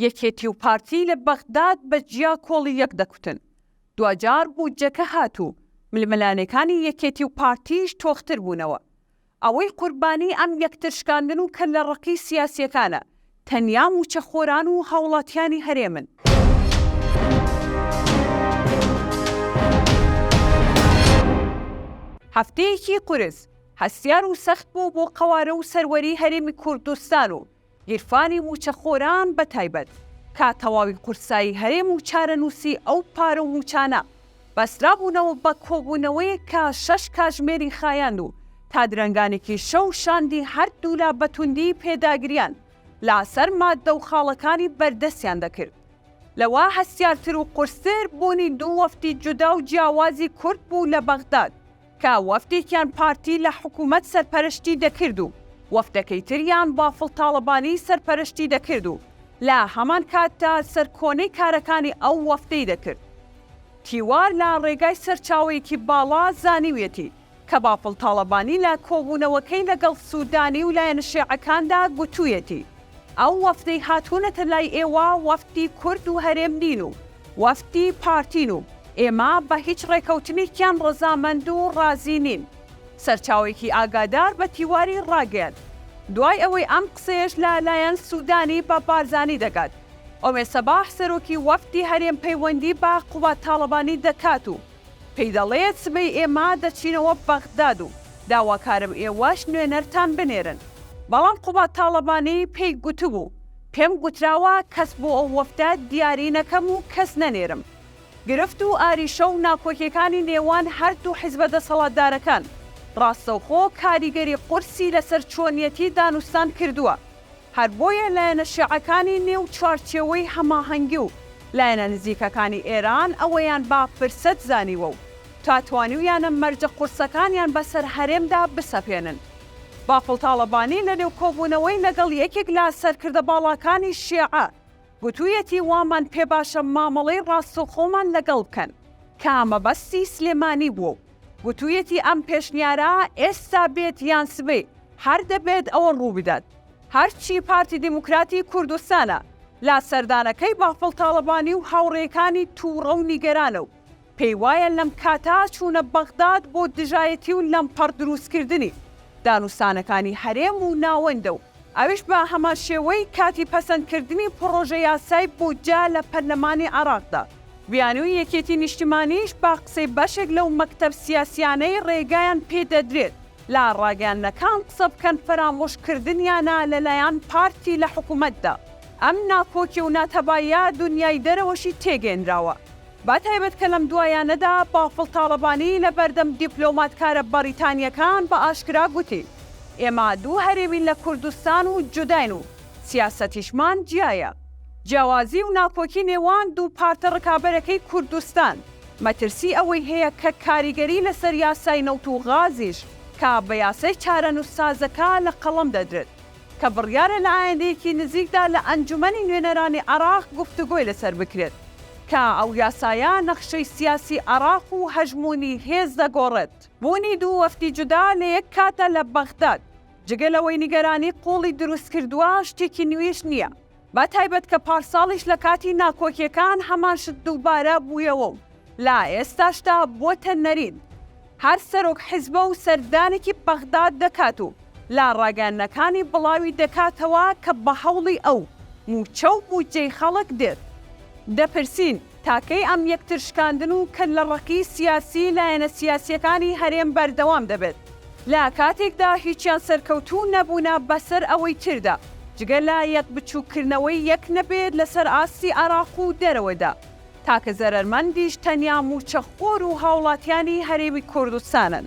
یەکێتی و پارتی لە بەغداد بە جیا کۆڵی یەک دەکوتن، دواجار بودجەکە هات و ململانێکانی یەکێتی و پارتیش تۆختر بوونەوە. ئەوەی قوربانی ئەم یەکتر شکاندن و کەللە ڕەقی سیاسیەکانە تەنیا موچە خۆران و هاوڵاتیانی هەرێمن. هەفتەیەکی قورس، هەستیار و سەخت بوو بۆ قەوارە و سەروەری هەرێمی کوردستان و گیرفانی مووچەخۆران بە تایبەت کە تەواوی قورسایی هەرێم و چارەنووسی ئەو پارە و مووچانە بەسترابوونەوە بە کۆبوونەوەیەک کە شەش کاژمێری خایاند و تا درەنگانێکی شەو شاندی هەردوولا بە توندی پێداگرییان لە سەر ماددە و خاڵەکانی بەردەستیان دەکرد. لەوە هەستیارتر و قورستر بوونی دوو وەفدی جودا و جیاوازی کورد بوو لە بەغداد، کە وەفدێکیان پارتی لە حکوومەت سەرپەرشتی دەکرد و وەفدەکەی تریان بافڵ تاڵەبانی سەرپەرشتی دەکرد و لە هەمان کاتدا سەرکۆنەی کارەکانی ئەو وەفدەی دەکرد. تیوار لە ڕێگای سەرچاوەیەکی باڵا زانیویەتی کە بافڵ تاڵەبانی لە کۆبوونەوەکەی لەگەڵ سوودانی و لایەنە شێعەکاندا گوتوویەتی، ئەو وەفدەی هاتوونەتە لای ئێوە وەفدی کورد و هەرێم نین و وەفدی پارتین و ئێمە بە هیچ ڕێکەوتنێکیان ڕەزامەند و ڕازی نین سەرچاوەیەکی ئاگادار بە تیواری ڕاگەیاند دوای ئەوەی ئەم قسەیەش لە لایەن سوودانی بە بارزانی دەگات ئۆمێ سەباح سەرۆکی وەفدی هەرێم پەیوەندی بە قوباد تاڵەبانی دەکات و پێی دەڵێت سبەی ئێمە دەچینەوە بەغداد و داواکارم ئێوەش نوێنەرتان بنێرن، بەڵام قوباد تاڵەبانی پێی گوتبوو، پێم گوتراوە کەس بۆ ئەو وەفدە دیاری نەکەم و کەس نەنێرم. گرفت و ئاریشە و ناکۆکیەکانی نێوان هەردوو حیزبە دەسەڵاتدارەکان، ڕاستەوخۆ کاریگەری قورسی لەسەر چۆنیەتی دانوستان کردووە. هەر بۆیە لایەنە شێعەکانی نێو چوارچێوەی هەماهەنگی و لایەنە نزیکەکانی ئێران ئەوەیان بە فرسەت زانیوە و تا توانیویانە مەرجە قورسەکانیان بەسەر هەرێمدا بسەپێنن. بافڵ تاڵەبانی لە نێو کۆبوونەوەی لەگەڵ یەکێک لە سەرکردە باڵاکانی شێعە گوتوویەتی وامان پێ باشە مامەڵەی ڕاستەوخۆمان لەگەڵ بکەن، کە مەبەستی سلێمانی بووە و گوتوویەتی ئەم پێشنیارە ئێستا بێت یان سبەی هەر دەبێت ئەوە ڕووبدات هەرچی پارتی دیموکراتی کوردستانە لە سەردانەکەی بافڵ تاڵەبانی و هاوڕێکانی تووڕە و نیگەرانە و پێیوایە لەم کاتا چوونە بەغداد بۆ دژایەتی و لەمپەڕ درووستکردنی دانوستانەکانی هەرێم و ناوەندە و ئەویش بە هەمانشێوەی کاتی پەسەندکردنی پڕۆژە یاسای بودجە لە پەرلەمانی عێراقدا. بیانووی یەکێتی نیشتیمانیش بە قسەی بەشێک لەو مەکتەب سیاسییانەی ڕێگایان پێدەدرێت لە ڕاگەیاندنەکان قسە بکەن فەرامۆش کردنیانە لە لایان پارتی لە حکومەتدا ئەم ناکۆکی و ناتەباییە دونیای دەرەوەشی تێگەینراوە بە تایبەت کە لەم دوایانەدا بافڵ تاڵەبانی لە بەردەم دیپلۆماتکارە بەڕیتانیەکان بە ئاشکرا گوتی ئێمە دوو هەرێمین لە کوردستان و جوداین و سیاسەتیشمان جیایە جیاوازی و ناکۆکی نێوان دوو پارتە ڕکابەرەکەی کوردستان مەترسی ئەوەی هەیە کە کاریگەری لەسەر یاسای نەوت و غازیش کا بە یاسای چارەنووس سازەکە لە قەڵەم دەدرێت کە بڕیارە لە ئایندەیەکی نزیکدا لە ئەنجومەنی نوێنەرانی عێراق گفتوگۆی لەسەر بکرێت کە ئەو یاسایە نەخشەی سیاسی عێراق و هەژموونی هێز دەگۆڕێت. بوونی دوو وەفدی جودا لە یەک کاتدا لە بەغداد جگە لەوەی نیگەرانی قووڵی دروست کردووە شتێکی نوێیش نییە، بە تایبەت کە پارساڵیش لە کاتی ناکۆکیەکان هەمان شت دووبارە بوویەوە و لە ئێستاشدا بۆتە نەرین. هەر سەرۆک حیزبە و سەردانێکی بەغداد دەکات و لە ڕاگەیاندنەکانی بڵاوی دەکاتەوە کە بە هەوڵی ئەو مووچە و بودجەی خەڵک دێت. دەپرسین، تاکەی ئەم یەکترشکاندن و کەللە ڕەقی سیاسی لایەنە سیاسیەکانی هەرێم بەردەوام دەبێت لە کاتێکدا هیچیان سەرکەوتوو نەبوونە بەسەر ئەوەی تردا جگە لە یەک بچووک کردنەوەی یەک نەبێت لەسەر ئاستی عێراق و دەرەوەدا تاکە زەرەرمەندیش تەنیا مووچە خۆر و هاوڵاتیانی هەرێمی کوردستانن.